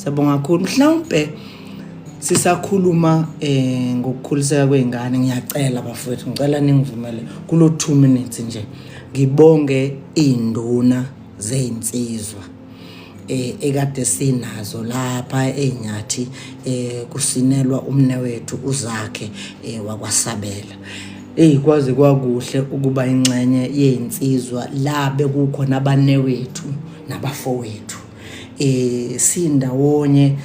Siyabonga kakhulu. Mhlawumbe sisakhuluma eh ngokukhuliseka kweingane ngiyacela bafowethu ngicela ningivumele kulo 2 minutes nje ngibonge induna zezinsizwa eh ekade sinazo lapha einyathi eh kusinelwa umne wethu uzakhe eh wakwasabela eyi kwaze kwakuhle ukuba inxenye yezinsizwa la bekukhona abanewethu nabafowethu eh sindawonye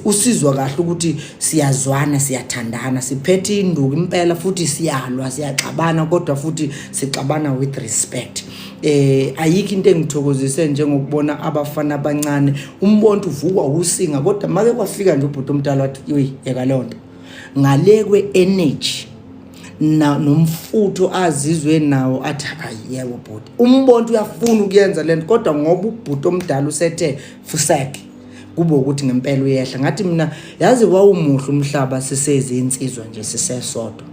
usizwa kahle ukuthi siyazwana siyathandana siphethe induku impela futhi siyalwa siyaxabana kodwa futhi sixabana with respect eh ayikho into engithokozise njengokubona abafana abancane umbonto uvukwa usinga kodwa make kwafika nje ubhuti omdala wathi yoyi yeka lonto ngale kwe energy na nomfutho azizwe nawo athi hayi yebo bhuti umbonto uyafuna ukuyenza lento kodwa ngoba ubhuti omdala usethe fuseke kube ukuthi ngempela uyehla ngathi mina yazi wawumuhle umhlaba sisezi insizwa nje sisesodwa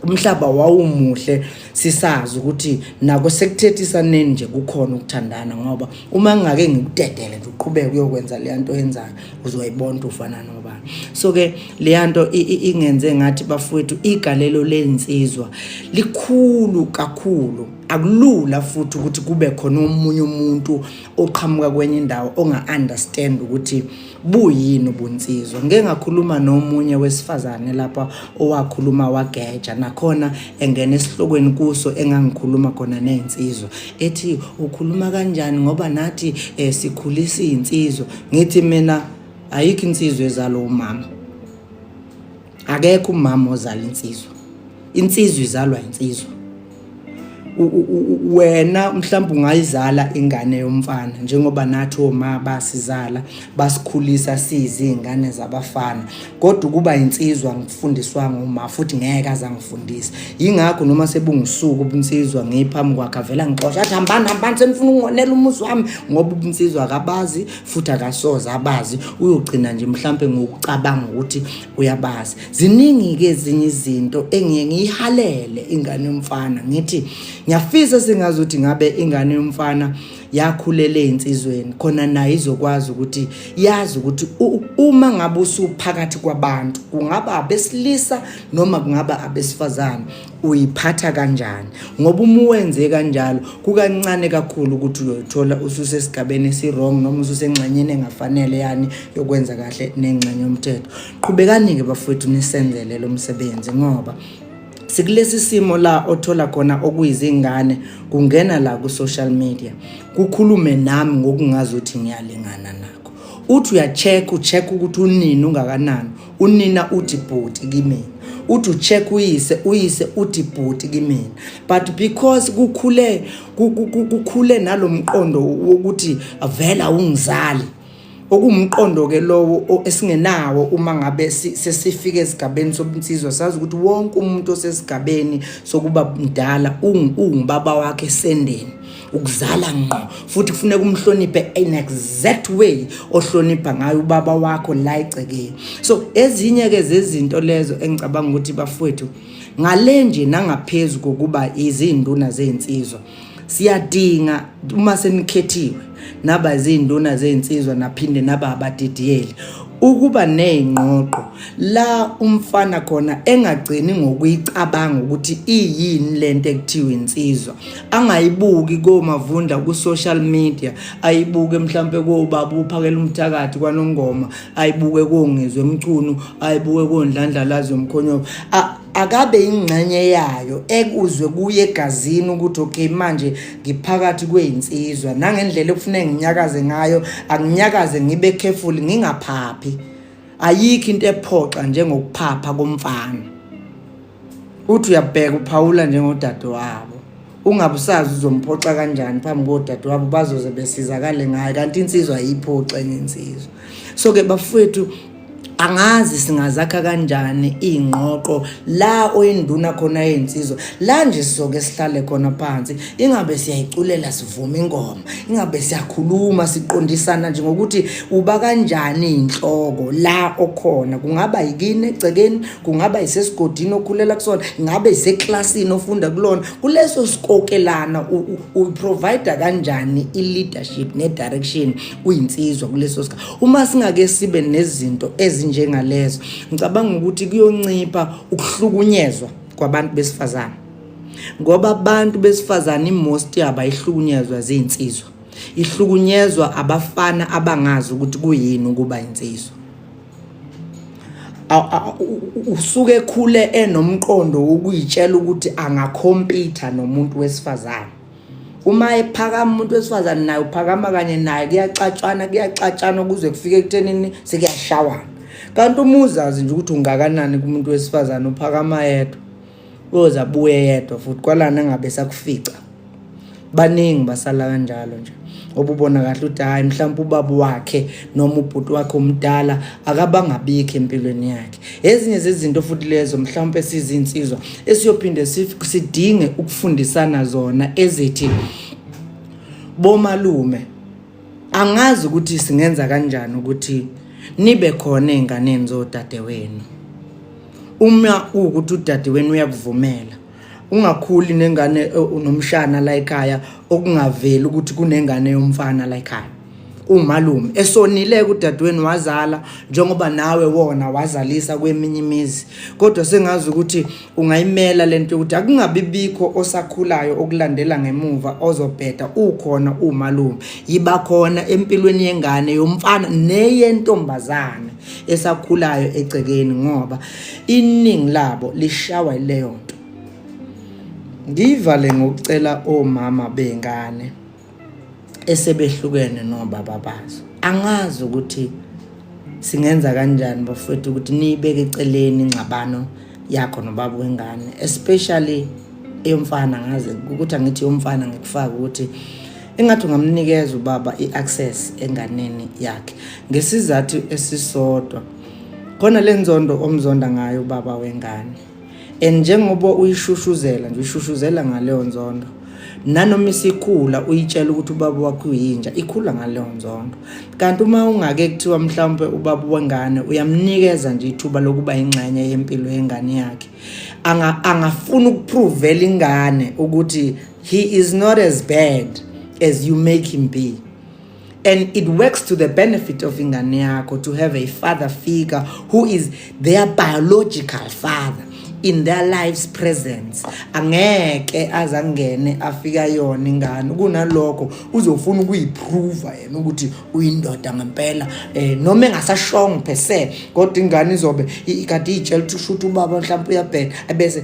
umhlaba wawumuhle sisazi ukuthi nako sekuthethisa neni nje kukhona ukuthandana ngoba uma ngingake ngikudedele nje uqhubeke uyokwenza le nto yenzayo uzoyibona ufana nobani so ke leya nto ingenze ngathi bafowethu igalelo lensizwa likhulu kakhulu akulula futhi ukuthi kube khona omunye umuntu oqhamuka kwenye indawo onga-understand ukuthi buyini ubunsizwa ngike ngakhuluma nomunye wesifazane lapha owakhuluma wageja nakhona engena esihlokweni kuso engangikhuluma khona ney'nsizwa ethi ukhuluma kanjani ngoba nathi eh, sikhulisa izinsizwa ngithi mina ayikho insizwa ezalo umama akekho umama ozala insizwa insizwa izalwa insizwa wena mhlawumbe ungayizala ingane yomfana njengoba nathi oma basizala basikhulisa siyizi ingane zabafana kodwa ukuba insizwa ngifundiswanga uma futhi ngeke aze angifundise yingakho noma sebungusuku ubunsizwa ngiphambi kwakhe avela ngixosha athi hambani hambani senifuna ukungonela umuzi wami ngoba ubunsizwa akabazi futhi akasoze abazi uyogcina nje mhlampe ngokucabanga ukuthi uyabazi ziningi-ke ezinye izinto engiye ngiyihalele ingane yomfana ngithi ngiyafisa singazi ukuthi ngabe ingane yomfana yakhulela ezinsizweni khona naye izokwazi ukuthi yazi ukuthi uma ngabe usuphakathi kwabantu kungaba abesilisa noma kungaba abesifazane uyiphatha kanjani ngoba uma uwenze kanjalo kukancane kakhulu ukuthi uyoyithola ususesigabeni esi-wrong noma ususengxenyeni engafanele yani yokwenza kahle nengxenye yomthetho qhubekani-ke bafowethu nisenzele lo msebenzi ngoba sikulesi simo la othola khona okuyizingane kungena la ku social media kukhulume nami ngokungazi ukuthi ngiyalingana na uthi uyacheck ucheck ukuthi unini ungakanani unina uthi bhuti kimina uthi ucheck uyise uyise uthi bhuti kimina but because kukhule kukhule nalomqondo wokuthi vela ungizali okuwumqondo-ke lowo esingenawo uma ngabe sesifika esigabeni sobunsizwa sazi ukuthi wonke umuntu osesigabeni sokuba mdala ungubaba wakhe esendeni ukuzala ngqo futhi kufuneka umhloniphe in exact way ohlonipha ngayo ubaba wakho la egcekeni so ezinye-ke zezinto lezo engicabanga ukuthi bafowethu ngale nje nangaphezu kokuba izinduna zey'nsizwa siyadinga uma senikhethiwe naba izinduna zezinsizwa naphinde naba abadidiyeli ukuba nezingqoqo la umfana khona engagcini ngokuyicabanga ukuthi iyini lento ekuthiwa insizwa angayibuki komavunda ku social media ayibuke mhlambe kobaba uphakela umthakathi kwanongoma ayibuke kongezwe emchunu ayibuke kondlandlalazi yomkhonyovu akabe ingxenye yayo ekuzwe kuye egazini ukuthi okay manje ngiphakathi kweyinsizwa nangendlela ekufuneka nginyakaze ngayo anginyakaze ngibe careful ngingaphaphi ayikho into ephoxa njengokuphapha komfana uthi uyabheka uphawula njengodade wabo ungabe usazi uzomphoxa kanjani phambi kodade wabo bazoze besizakale ngayo kanti insizwa ayiphoxe ngensizwa so ke bafowethu angazi singazakha kanjani iy'ngqoqo la oyinduna khona yey'nsizwa la nje sizoke sihlale khona phansi ingabe siyayiculela sivume ingoma ingabe siyakhuluma siqondisana nje ngokuthi uba kanjani iy'nhloko la okhona kungaba yikini egcekeni kungaba yisesigodini okhulela kusona ngabe yiseklasini ofunda kulona kuleso sikokelana uyiprovider kanjani i-leadership ne-direction uyinsizwa kuleso sikhathi Uma singake sibe nezinto ezinjengalezo, ngicabanga ukuthi kuyoncipha ukuhlukunyezwa kwabantu besifazane. Ngoba abantu besifazane imost yabo ayihlukunyezwa zinsizwa. Ihlukunyezwa abafana abangazi ukuthi kuyini ukuba insizwa. usuke ekhule enomqondo wokuyitshela ukuthi angakhompitha nomuntu wesifazane uma ephakama umuntu wesifazane naye uphakama kanye naye kuyaxatshwana kuyaxatshana kuze kufike ekuthenini sekuyashawana kanti uma uzazi nje ukuthi ungakanani kumuntu wesifazane uphakama yedwa uyoze abuye yedwa futhi kwalana ngabe sakufica baningi basala kanjalo nje obubona kahle ukuthi hhayi mhlawumpe ubaba wakhe noma ubhuti wakhe omdala akabangabikho empilweni yakhe ezinye zezinto futhi lezo mhlawumpe sizinsizwa esiyophinde sidinge ukufundisana zona ezithi bomalume angazi ukuthi singenza kanjani ukuthi nibe khona ezinganeni zodadewenu uma ukuthi udadewenu uyakuvumela ungakhuli nengane eh, nomshana la ekhaya okungaveli ukuthi kunengane yomfana la ekhaya umalume esonile kudadweni wazala njengoba nawe wona wazalisa kweminye imizi kodwa sengazi ukuthi ungayimela lento ukuthi akungabi bikho osakhulayo okulandela ngemuva ozobheda ukhona umalume yiba khona empilweni yengane yomfana neyentombazane esakhulayo egcekeni ngoba iningi labo lishawa ileyo nto ngivale ngokucela omama bengane esebehlukene nobaba bazo angazi ukuthi singenza kanjani bafethu ukuthi niyibeke eceleni ingxabano yakho nobaba wengane especially eyomfana ngazi ukuthi angithi yomfana ngikufaka ukuthi engathi ungamnikeza ubaba i-access enganeni yakhe ngesizathu esisodwa khona le nzondo omzonda ngayo ubaba wengane and njengoba uyishushuzela nje uyishushuzela ngaleyo nzondo nanoma isikhula uyitshela ukuthi ubaba wakho uyinja ikhula ngaleyo nzondo kanti uma ungake kuthiwa mhlawumbe ubaba wengane uyamnikeza nje ithuba lokuba ingxenye yempilo yengane yakhe angafuni ukupruvela ingane ukuthi He is not as bad as you make him be. And it works to the benefit of ingane yakho to have a father figure who is their biological father in their lives presence angeke azangene afika yona ingane kunalokho uzofuna ukuyiprova yena ukuthi uyindoda ngempela eh noma engasashongo per se kodwa ingane izobe ikade iyitshela ukuthi ushuthi ubaba mhlawumbe uyabheka ebese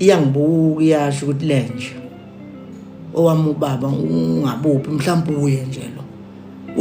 iyangibuka iyasho ukuthi lenje owami ubaba ungabuphi mhlawumbe uye nje lo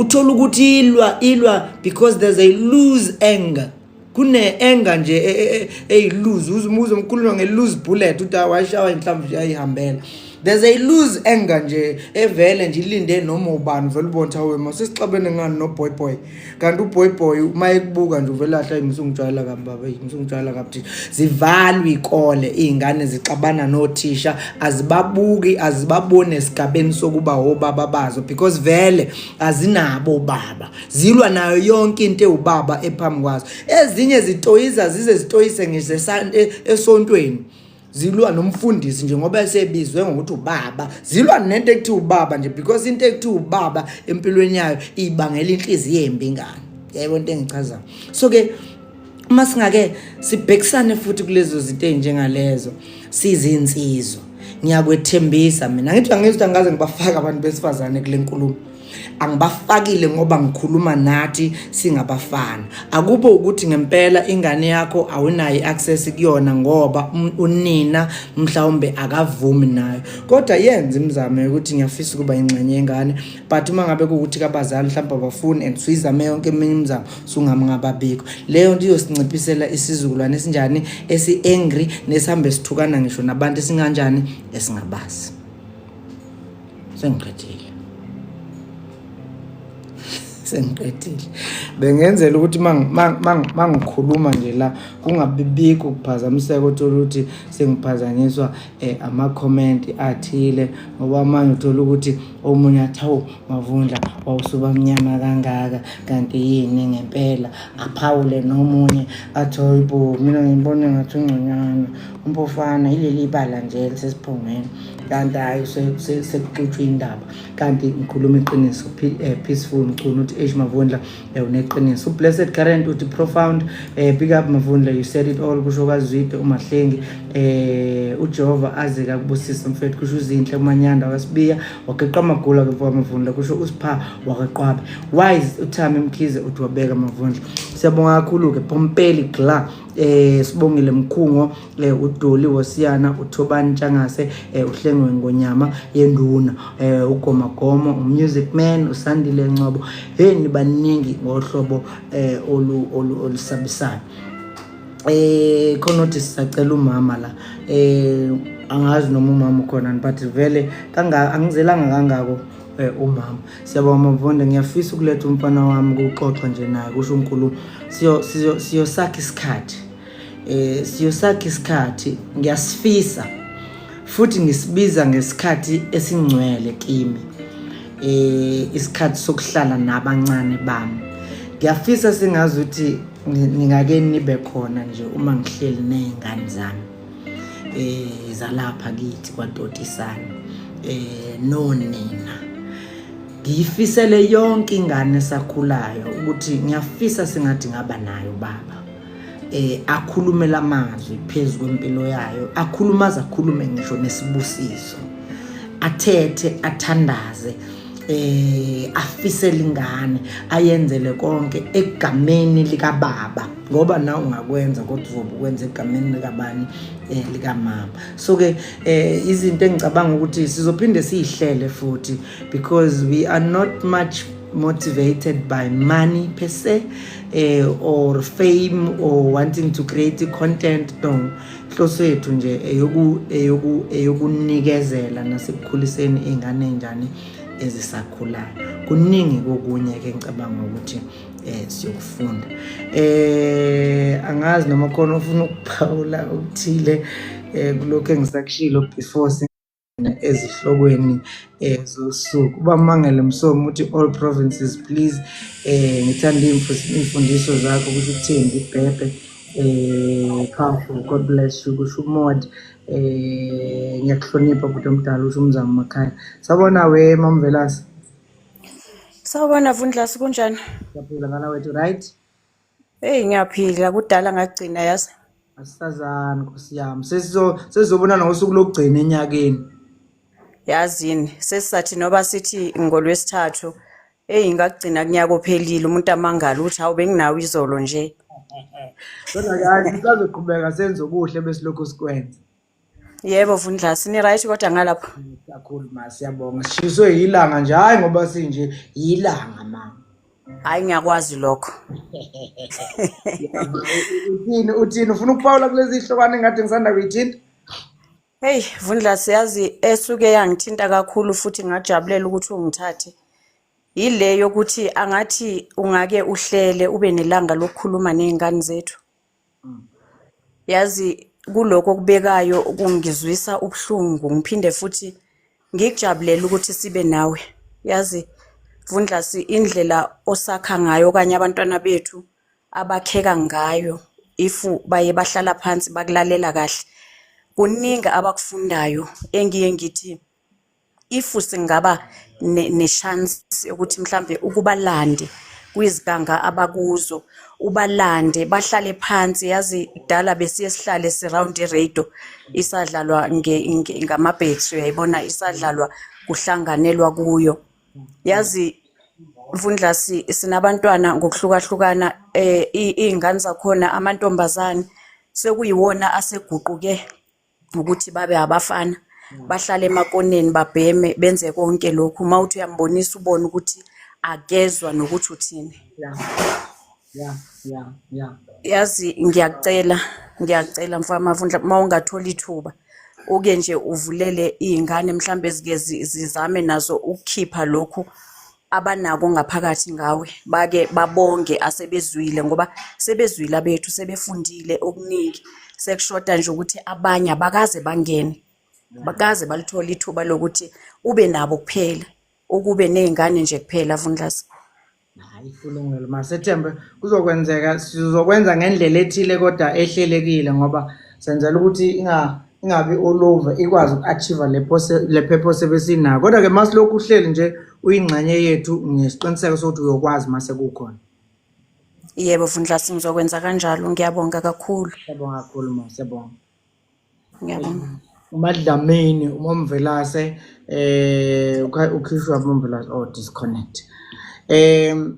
uthola ukuthi ilwa ilwa because there's a lose anger kune-enga nje e, e, e, eyiluzi uze umkhuluma nge-lose bullet uthi awashawa inhlamvu nje ayihambela there's a lose anger nje evele nje ilinde noma ubani vele ubona ukuthi awe masesixabene ngani noboy boy kanti uboy boy uma ekubuka nje uvele ahla imsungijwayela kabi baba imsungijwayela kabi thisha zivalwe ikole izingane zixabana nothisha azibabuki azibabone esigabeni sokuba obaba bazo because vele azinabo baba zilwa nayo yonke into ewubaba ephambi kwazo ezinye zitoyiza zize zitoyise ngisesante esontweni zilwa nomfundisi nje ngoba esebizwe ngokuthi ubaba zilwa nento ekuthiwa ubaba nje because into ekuthiwa ubaba empilweni yayo ibangela inhliziyo embi ingane yebo into engichazayo so ke uma singake sibhekisane futhi kulezo zinto ezinjengalezo sizinsizwa ngiyakwethembisa mina ngithi angizwa ngaze ngibafaka abantu besifazane kule nkulumo angibafakile ngoba ngikhuluma nathi singabafana akube ukuthi ngempela ingane yakho awunayo i-access kuyona ngoba um, unina mhlawumbe akavumi nayo kodwa yenza imizamo yokuthi ngiyafisa ukuba ingxenye yengane but uma ngabe kuwukuthi kabazali mhlawumbe abafuni and suyizame yonke eminye imizamo sungamngababikho leyo nto iyosinciphisela isizukulwane esinjani esi-angry nesihambe sithukana ngisho nabantu esinganjani esingabazi sengiqedile sengiqedile bengenzela ukuthi mangikhuluma nje la kungabibikho ukuphazamiseka othola ukuthi sengiphazanyiswa um eh, amakhomenti athile ngoba amanye uthola ukuthi omunye athi hawu mavundla wawusuba mnyama kangaka kanti yini ngempela aphawule nomunye athi hoyibo mina ngibone ngathi ungconyana umpofana ileli bala nje lisesiphongweni kanti hayi sekuxutshwa indaba kanti ngikhuluma iqiniso eh, peaceful mchunu uthi eish mavundla eh, uneqiniso ublessed current uthi profound eh, big up mavundla you said it all kusho kwazwide umahlengi eh ujehova aze kakubusisa mfethu kusho uzinhle umanyanda wasibiya wageqa amagula kepha mavundla kusho usipha wakaqwabe wise uthami mkhize uthi wabeka mavundla siyabonga kakhulu-ke pompeli gla eh sibongile mkhungo eh udoli wosiyana uthobani ntshangase eh uhlengwe ngonyama yenduna eh ugoma gomo umusic man usandile ncobo hey nibaningi ngohlobo eh olu olusabisayo eh khona uthi sisacela umama la eh angazi noma umama ukhona but vele kanga angizelanga kangako Eh, umama siyabonga mavonda ngiyafisa ukuletha umfana wami ukuxoxa nje naye kusho unkulumo siyosakha isikhathi um siyosakha isikhathi ngiyasifisa futhi ngisibiza ngesikhathi esingcwele kimi um isikhathi sokuhlala nabancane bami ngiyafisa singazi ukuthi ningake nibe khona nje uma ngihleli ney'ngane zami eh zalapha kithi kwadotisana eh nonina ngiyifisele yonke ingane esakhulayo ukuthi ngiyafisa singathi ngaba nayo baba eh akhulume lamazwi phezulu kwempilo yayo akhulumaza akhulume ngisho nesibusiso athethe athandaze eh afise lingane ayenzele konke egameni lika baba ngoba na ungakwenza kodwa uzobe ukwenza egameni likabani eh likamama so ke eh izinto engicabanga ukuthi sizophinde siyihlele futhi because we are not much motivated by money per se eh, or fame or wanting to create content no inhloso yethu nje eyoku eyoku eyokunikezela nasekukhuliseni izingane njani ezisakhulayo kuningi kokunye ke ngicabanga ukuthi eh siyokufunda eh angazi noma khona ufuna ukuphawula okuthile eh kulokho engisakushilo before ezihlokweni eh zosuku bamangele msomo uthi all provinces please eh ngithanda imfundiso zakho ukuthi uthembi ibhebhe eh powerful god bless you kusho umod eh ngiyakuhlonipha bhuti omdala usho umzamo makhaya sabona we mamvelasi sawubona vundlasi kunjani ngiyaphila ngala wethu right Hey ngiyaphila kudala ngagcina yazi. Asisazani Nkosi yami. Sesizo sesizobona ngosuku lokugcina enyakeni. Yazini sesisathi noba sithi ngolwesithathu hey ngagcina kunyaka ophelile umuntu amangala uthi hawu benginawo izolo nje. Kodwa kathi sazoqhubeka senze okuhle besilokhu sikwenza. Yebo Vundlasi, ni right kodwa ngalapho. kakhulu ma siyabonga sishiswe yilanga nje hhayi ngoba sinje yilanga ma Hayi ngiyakwazi lokho. uthini uthini ufuna ukuphawula kulezi zihlokwane engathi ngisanda kuyithinta Hey Vundlasi yazi esuke yangithinta kakhulu futhi ngajabulela ukuthi ungithathe. Yile yokuthi angathi ungake uhlele ube nelanga lokukhuluma nezingane zethu. yazi kuloko okubekayo kungizwisa ubuhlungu ngiphinde futhi ngikujabulela ukuthi sibe nawe yazi vundlasi indlela osakha ngayo okanye abantwana bethu abakheka ngayo if baye bahlala phansi bakulalela kahle kuningi abakufundayo engiye ngithi if singaba nechance yokuthi mhlambe ukubalande kwiziganga abakuzo ubalande bahlale phansi yazi kudala besiye sihlale siround iradio isadlalwa ngamabhekisi uyayibona isadlalwa kuhlanganelwa kuyo yazi mfundlasi sinabantwana ngokuhlukahlukana um iy'ngane zakhona amantombazane sekuyiwona aseguquke ukuthi babe abafana bahlale emakoneni babheme benze konke lokhu uma uthi uyambonisa ubone ukuthi akezwa nokuthi uthini yazi ngiyakucela ngiyakucela mfana mavundla uma ungathola ithuba uke nje uvulele iy'ngane mhlawumbe ezike zizame nazo ukukhipha lokhu abanako ngaphakathi ngawe bake babonge asebezwile ngoba sebezwile abethu sebefundile okuningi sekushoda nje ukuthi abanye abakaze bangene bakaze balithola ithuba lokuthi ube nabo kuphela ukube nezingane nje kuphela vundlasa hayi kulungile masethembe kuzokwenzeka sizokwenza ngendlela ethile kodwa ehlelekile ngoba senzela ukuthi inga ingabe olova ikwazi uku-achieve le purpose ebesinayo kodwa-ke uma silokhu uhleli nje uyingxenye yethu ngesiqiniseko sokuthi uyokwazi uma sekukhona yebo vundlasi ngizokwenza kanjalo ngiyabonga kakhulu siyabonga kakhulu ma siyabonga ngiyabonga umadlamini umomvelase eh ukhishwa umomvelase oh disconnect um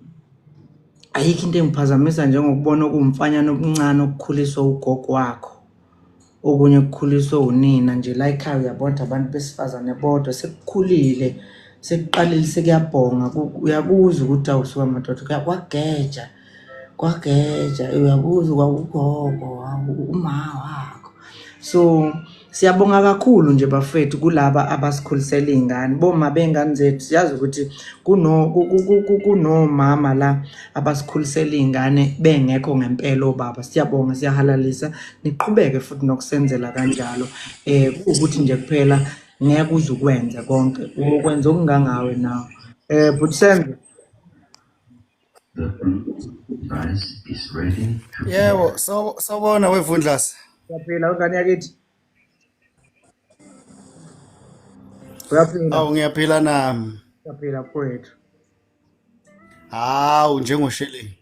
ayikho into engiphazamisa njengokubona okuwumfanyana okuncane okukhuliswa ugogo wakho okunye kukhuliswe unina nje la ekhaya uyabona abantu besifazane bodwa sekukhulile sekuqalile sekuyabhonga uyakuza ukuthi awusuka madoda kwageja kwageja uyakuza kwakugogo umawa wakho so Siyabonga kakhulu nje bafethu kulaba abasikhulisela iy'ngane. Boma bey'ngane zethu siyazi ukuthi kunomama la abasikhulisela iy'ngane bengekho ngempela obaba siyabonga siyahalalisa niqhubeke futhi nokusenzela kanjalo um ukuthi nje kuphela ngeke uze ukwenze konke ukwenza okungangawe nawo um bhuti senzo yebo sawubona wevundlasi uyaphila wengane yakithi uyaphila awu ngiyaphila nami uyaphila kwethu hawu njengosheleni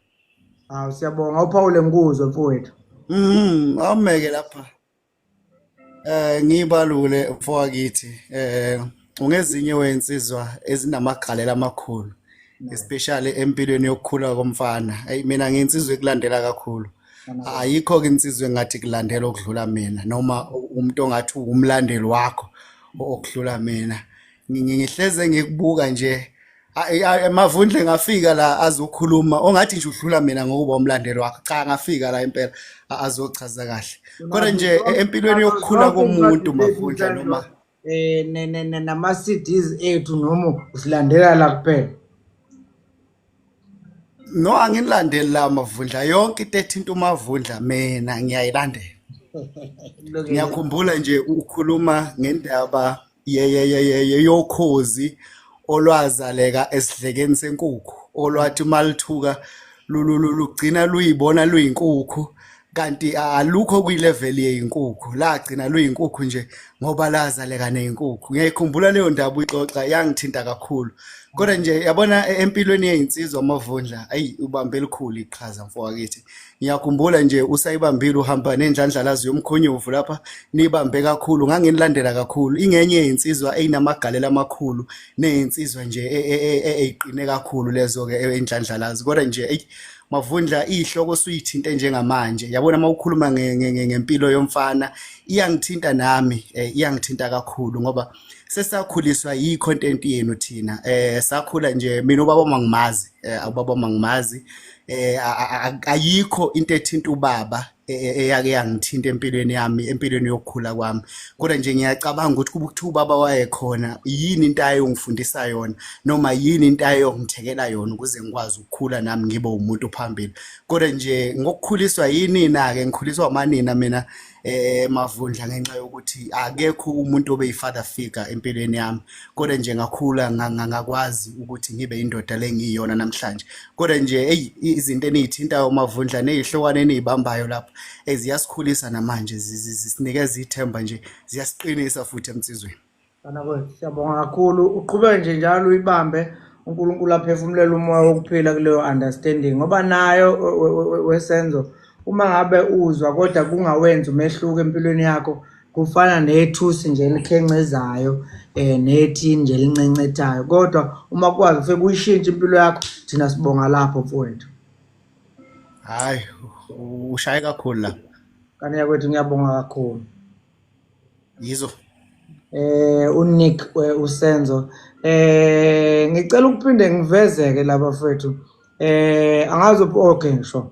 hawu siyabonga uphawule ngikuzwe mfowethu mhm awumeke lapha eh ngibalule mfowakithi eh ungezinye wensizwa ezinamagalela amakhulu especially empilweni yokukhula komfana ayi mina ngensizwe kulandela kakhulu ayikho-ke insizwe engathi kulandela okudlula mina noma umuntu ongathi uwumlandeli wakho okudlula mina ngihleze ngikubuka nje mavundle ngafika la azokhuluma ongathi nje udlula mina ngokuba umlandeli wakhe cha ngafika la impela azochaza kahle kodwa nje e-, empilweni yokukhula komuntu mavundla noma eh nama CDs ethu noma usilandela la kuphela no anginilandeli la mavundla yonke into ethinta umavundla mina ngiyayilandela ngiyakhumbula nje ukhuluma ngendaba yeyeyeye yokhozi olwazaleka esidlekeni senkukhu olwathi uma lithuka lugcina luyibona luyinkukhu kanti alukho kwi-level yeyinkukhu lagcina luyinkukhu nje ngoba lazaleka neyinkukhu ngiyayikhumbula leyo ndaba uyixoxa yangithinta kakhulu kodwa nje yabona e-, empilweni yeyinsizwa amavundla ayi ubambe elikhulu iqhaza mfowakithi ngiyakhumbula nje usayibambile uhamba nendlandlalazi yomkhonyovu lapha nibambe kakhulu nganginilandela kakhulu ingenye yensizwa eyinamagalela amakhulu neyinsizwa nje e, e, e, eyiqine kakhulu lezo ke endlandlalazi kodwa nje eyi mavundla ihloko suyithinta njengamanje yabona uma ukhuluma ngempilo yomfana iyangithinta nami eh, iyangithinta kakhulu ngoba sesakhuliswa yi-content yenu thina um sakhula nje mina ubaba mangimazi eh, ubaba mangimazi eh, ayikho into ethinta ubaba e, e, eyake yangithinta empilweni yami empilweni yokukhula kwami kodwa nje ngiyacabanga ukuthi kuba ukuthi ubaba wayekhona yini into ayongifundisa yona noma yini into ayongithekela yona ukuze ngikwazi ukukhula nami ngibe umuntu phambili kodwa nje ngokukhuliswa yinina-ke ngikhuliswa amanina mina, mina eh mavundla ngenxa yokuthi akekho umuntu obe yifather figure empilweni yami kodwa nje ngakhula ngangakwazi ukuthi ngibe indoda lengiyona namhlanje kodwa nje hey izinto enizithintayo mavundla nezihlokwane enizibambayo lapha eziyasikhulisa namanje zisinikeza ithemba nje ziyasiqinisa futhi emsizweni Banakwethu siyabonga kakhulu uqhubeke nje njalo uyibambe uNkulunkulu aphefumulela umoya wokuphila kuleyo understanding ngoba nayo wesenzo uma ngabe uzwa kodwa kungawenzi umehluko empilweni yakho kufana nethusi nje elikhencezayo um eh, nethini nje elincencethayo kodwa uma kwazi ufike kuyishintshe impilo yakho thina sibonga lapho mfowethu hhayi ushaye kakhulu la kanti yakwethu ngiyabonga kakhulu yizo eh uNick eh, uSenzo eh ngicela ukuphinde ngivezeke laba fethu eh angazi okay ngisho